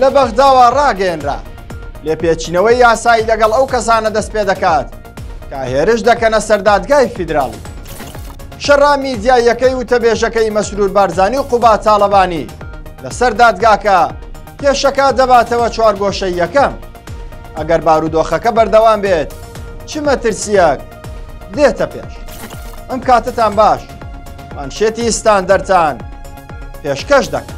لە بەغداوە ڕاگەیەنرا، لێپێچینەوەی یاسایی لەگەڵ ئەو کەسانە دەست پێ دەکات کە هێرش دەکەنە سەر دادگای فیدراڵی. شەڕا میدیاییەکەی وتەبێژەکەی مەسرور بارزانی و قوباد تاڵەبانی لەسەر دادگاکە پێشەکە دەباتەوە چوارگۆشەییەکەم. ئەگەر بارودۆخەکە بەردەوام بێت چ مەترسیەک دێتە پێش. ئەم کاتتان باش مانشێتی ستاندەرتان پێشکەش دەکەن.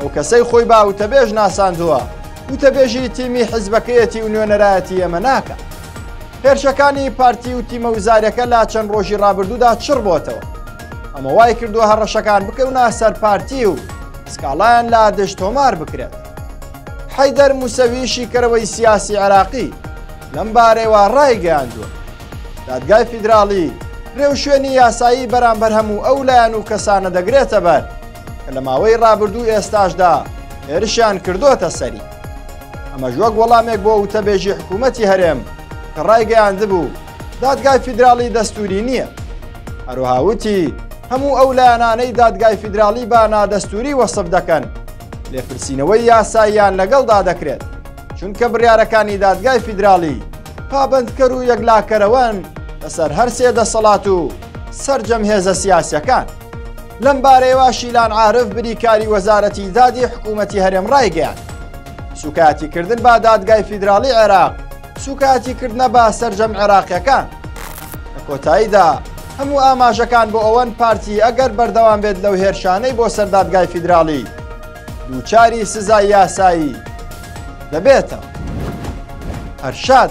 ئەو کەسەی خۆی با وتەبێژ ناساندووە وتەبێژی تیمی حیزبەکەیەتی و نوێنەرایەتی ئێمە ناکە هێرشەکانی پارتی و تیمە وزارەکە لا چەند ڕۆژی ڕابردوودا چڕ بۆتەوە ئەمە وای کردووە هەڕەشەکان بکەونە سەر پارتی و سکاڵایان لا دژ تۆمار بکرێت حەیدەر موسەوی شیکەرەوەی سیاسی عراقی لەم بارەوە ڕایگەیاندووە دادگای فیدراڵی رێوشوێنی یاسایی بەرامبەر هەموو ئەو لایەن و کەسانە دەگرێتە بەر کە لە ماوەی ڕابردوو ئێستاشدا هێرشیان کردوتە سەری ئەمەش وەک وەڵامێک بۆ وتەبێژی حکوومەتی هەرێم کە ڕایگەیاندبوو دادگای فیدراڵی دەستوری نییە هەروهاوتی هەموو ئەو لایەنانەی دادگای فیدراڵی با نادەستوری وەسف دەکەن لێپرسینەوەی یاساییان لەگەڵدا دەکرێت چونکە بڕارەکانی دادگای فیدراڵی پابندکەر و یەکلاکەرەوەن لەسەر هەرسێ دەسەڵات و سرجەم هێزە سیاسەکان. لەمبارەیەوە شیلان عارف بریکاری وەزارەتی دادی حکوومەتی هەرێم ڕایگەیان سوکایەتی کردن با دادگای فیدراڵی عێراق سوکایەتی کردنە با سرجەم عێراقیەکان لە کۆتاییدا هەموو ئاماژەکان بۆ ئەوەن پارتی ئەگەر بەردەوام بێت لەو هێرشانەی بۆ سەردادگای فیدراڵی دووچاری سزای یاسایی دەبێتەوە هەرشاد